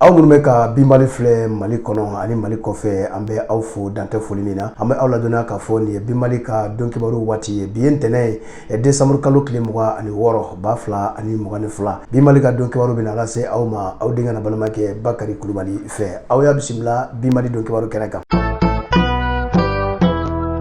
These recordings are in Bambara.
aw minnu bɛ ka binbali filɛ mali kɔnɔ ani mali kɔfɛ an bɛ aw fo dantɛ foli min na an bɛ aw ladɔnniya k'a fɔ nin ye binbali ka don kibaru waati ye bi ye ntɛnɛn ye eh, desanburu kalo tile mugan ani wɔɔrɔ ba fila ani mugan ni fila binbali ka don kibaru bɛna lase aw ma aw denkɛ n'aw balimakɛ bakari kulubali fɛ aw y'a bisimila binbali don kibaru kɛnɛ kan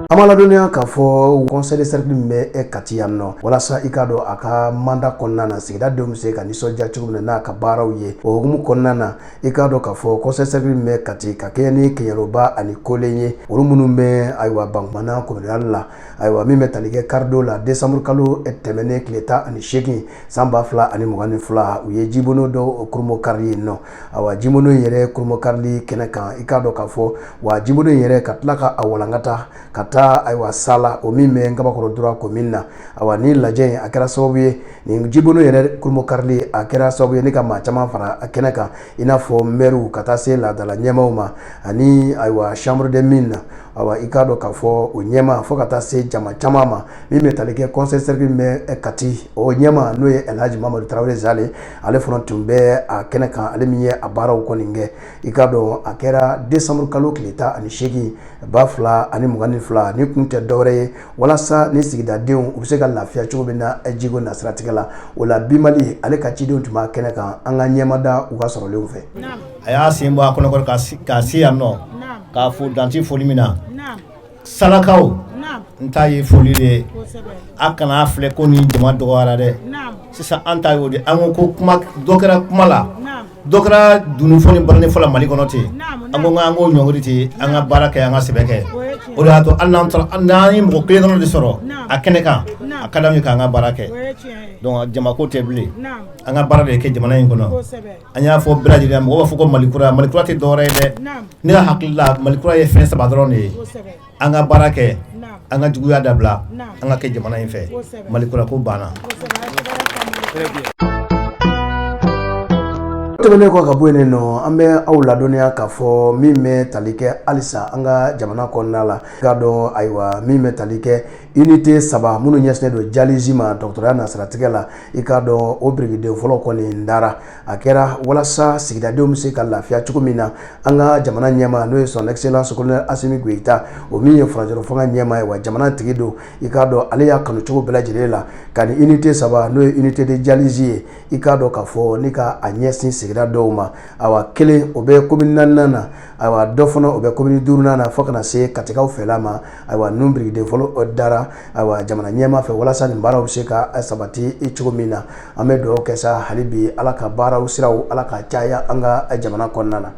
an b'a ladɔnniya k'a fɔ conseil de cercle min bɛ e kati yan nɔ walasa i k'a dɔn a ka mandat kɔnɔna na sigida denw bɛ se ka nisɔndiya cogo min na n'a ka baaraw ye o hukumu kɔnɔna na i k'a dɔn k'a fɔ conseil de cercle min bɛ kati ka kɛɲɛ ni kɛɲɛroba ani kolen ye olu minnu bɛ ayiwa bankumana commune rurale la ayiwa min bɛ tali kɛ karidon la desanburu kalo tɛmɛnen tile tan ani seegin san ba fila ani mugan ni fila u ye jibono dɔw kurunbonkari yen nɔ a jibono in yɛrɛ kurunbonkarili kɛnɛ kan i k'a dɔn k'a fɔ wa jibono in yɛrɛ ka tila ka a walankata ka taa ayiwa sala o min bɛ ngabakɔrɔ droit commune na a ni lajɛ in a kɛra sababu ye nin jibono yɛrɛ kurunbonkarili a kɛra sababu ye ni ka maa caman fara a kɛnɛ kan i n'a fɔ mɛriw ka taa se laadadala ɲɛmaaw ma ani ayiwa chambre des mines na a i k'a dɔn k'a fɔ o ɲɛmaa fo ka taa se jama caman ma min bɛ tali kɛ conseil cercle bɛ kati o ɲɛmaa n'o ye elhaji mamadu tarawele zale ale fana tun bɛ a kɛnɛ kan ale min ye a baaraw kɔni kɛ i k'a dɔn a kɛra desanburu kalo tile tan ani seegin ba fila ani mugan ni fila ni kun tɛ dɔwɛrɛ ye walasa ni sigidadenw u bɛ se ka lafiya cogo min na jiko nasiratigɛ la o la binbali ale ka cidenw tun b'a kɛnɛ kan an ka ɲɛmada u ka sɔrɔlenw fɛ a y'a sen bɔ a kɔnɔ ka se yan nɔ k'a fo dantɛ foli min na Salakaw n ta ye foli de ye a kana filɛ ko ni jama dɔgɔyara dɛ sisan an ta y'o de an ko kuma dɔ kɛra kuma la dɔ kɛra dunun fɔ ni baranin fɔ la mali kɔnɔ ten an ko an k'o ɲɔngiri ten an ka baara kɛ an ka sɛbɛ kɛ o de y'a to hali n'an ye mɔgɔ kelen dɔrɔn de sɔrɔ a kɛnɛ kan a ka d'an ye k'an ka baara kɛ donc jama ko tɛ bilen an ka baara de kɛ jamana in kɔnɔ an y'a fɔ bɛɛ lajɛlen mɔgɔ b'a fɔ ko mali kura mali kura tɛ dɔwɛrɛ ye dɛ ne ka hakili la mali kura ye fɛn saba dɔrɔn de ye an ka baara kɛ an ka juguya dabila an ka kɛ jamana in fɛ mali kura ko banna tɛmɛnen kɔ ka bɔ yen nɔ an bɛ aw ladɔnniya k'a fɔ min bɛ tali kɛ halisa an ka jamana kɔnɔna la k'a dɔn ayiwa min bɛ tali kɛ unité saba minnu ɲɛsinnen don dialyse ma dɔgɔtɔrɔya nasiratigɛ la i k'a dɔn o birikiden fɔlɔ kɔni dara a kɛra walasa sigidadenw bɛ se ka lafiya cogo min na an ka jamana ɲɛmaa n'o ye son excellence colonel asimi goyita o min ye furancɛla fanga ɲɛmaa ye wa jamana tigi don i k'a dɔn ale y'a kanu cogo bɛɛ lajɛlen la ka ni unité saba n'o ye unité de dialyse ye i k'a dɔn k'a fɔ ni ka a ɲɛsin sigida dɔw ma a kelen o bɛ commune naaninan na wa dɔ fana o bɛ commune duurunan na fo ka na se katikaw fɛla ma ayiwa ninnu birikiden fɔlɔ dara ayiwa jamana ɲɛmaa fɛ walasa nin baaraw bɛ se ka sabati cogo min na an bɛ dugawu kɛ sa hali bi ala ka baaraw siraw ala ka caya an ka jamana kɔnɔna na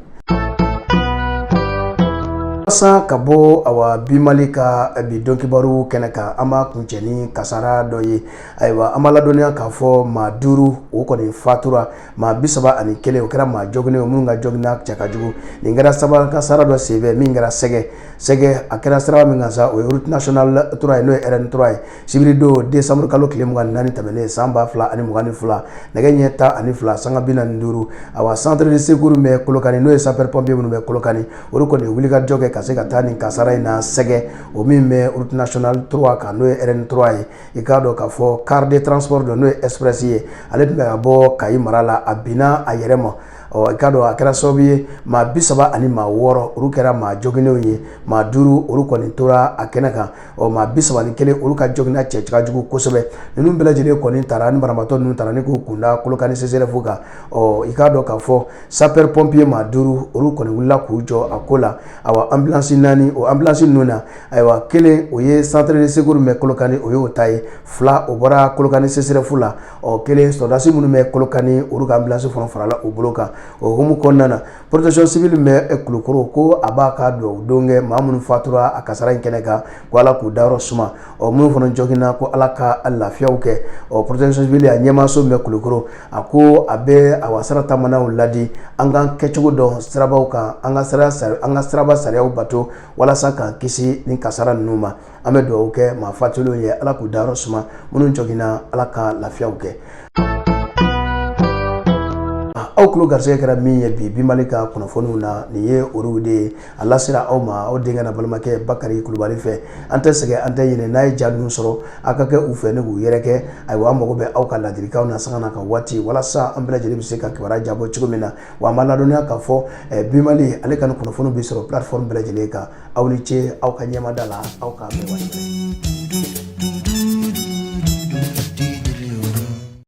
walasa ka bɔ awa bi mali ka eh, bi don kibaro kɛnɛ kan an b'a kuncɛ ni kasara dɔ ye ayiwa an b'a ladɔnniya k'a fɔ maa duuru o kɔni fatura maa bi saba ani kelen o kɛra maa jɔginnen ye minnu ka jɔginna cɛ ka jugu nin kɛra siraba kasara dɔ senfɛ min kɛra sɛgɛ sɛgɛ a kɛra siraba min kan sa o ye route nationale trois ye n'o ye RN trois ye sibiridon desanburu kalo tile mugan naani tɛmɛnen san ba fila ani mugan ni fila nɛgɛ ɲɛ tan ani fila sanga bi naani duuru awa centre de secours bɛ kolokani n'o ye sapeur pompier minnu bɛ kolokani o kɔni wuli ka jɔ kɛ ka se ka taa nin kasara in na sɛgɛ o min bɛ route nationale trois kan n'o ye RN trois ye i k'a dɔn k'a fɔ car de transport don n'o ye express ye ale tun bɛ ka bɔ kayi mara la a binna a yɛrɛ ma ɔ i k'a dɔn a kɛra sababu ye maa bi saba ani maa wɔɔrɔ olu kɛra maa joginnenw ye maa duuru olu kɔni tora a kɛnɛ kan ɔ maa bi saba ni kelen olu ka joginna cɛ ka jugu kosɛbɛ ninnu bɛɛ lajɛlen kɔni taara ni banabaatɔ ninnu taara ni k'u kunda kolokani CSREF kan ɔ i k'a dɔn k'a fɔ sapeur pompier maa duuru olu kɔni wulila k'u jɔ a ko la awa ambulance naani o ambulance ninnu na ayiwa kelen o ye centre de secours min bɛ Kolokani o y'o ta ye fila o bɔra Kolokani CSREF la ɔ kelen sɔrɔdasi minnu bɛ Kolokani olu ka ambulance fana farala u bolo kan o hukumu kɔnɔna na protection civile min bɛ Kulukoro ko a b'a ka dugawudon kɛ maa minnu fatura a kasara in kɛnɛ kan ko Ala k'u dayɔrɔ suma ɔ minnu fana jɔginna ko Ala ka lafiyaw kɛ ɔ protection civile a ɲɛmaaso min bɛ Kulukoro a ko a bɛ awa sira taamanaw ladi an k'an kɛcogo dɔn sirabaw kan an ka sira an ka siraba sariyaw bato walasa k'an kisi nin kasara ninnu ma an bɛ dugawu kɛ maa fatulenw ye ala k'u dayɔrɔ suma minnu jɔginna ala ka lafiyaw kɛ aw tulo garisɛgɛ kɛra min ye bi bi mali ka kunnafoniw na nin ye olu de ye a lasera aw ma aw denkɛ n'aw balimakɛ bakari kulubali fɛ an tɛ sɛgɛn an tɛ ɲinɛ n'aw ye ja ninnu sɔrɔ aw ka kɛ u fɛ ni k'u yɛrɛkɛ ayiwa an mago bɛ aw ka ladilikanw na sanga na ka waati walasa an bɛɛ lajɛlen bɛ se ka kibaruya jabɔ cogo min na Wa an b'a ladɔnniya k'a fɔ bi Mali ale ka nin kunnafoni bɛ sɔrɔ plateforme bɛɛ lajɛlen kan aw ni ce aw ka ɲɛmada la aw ka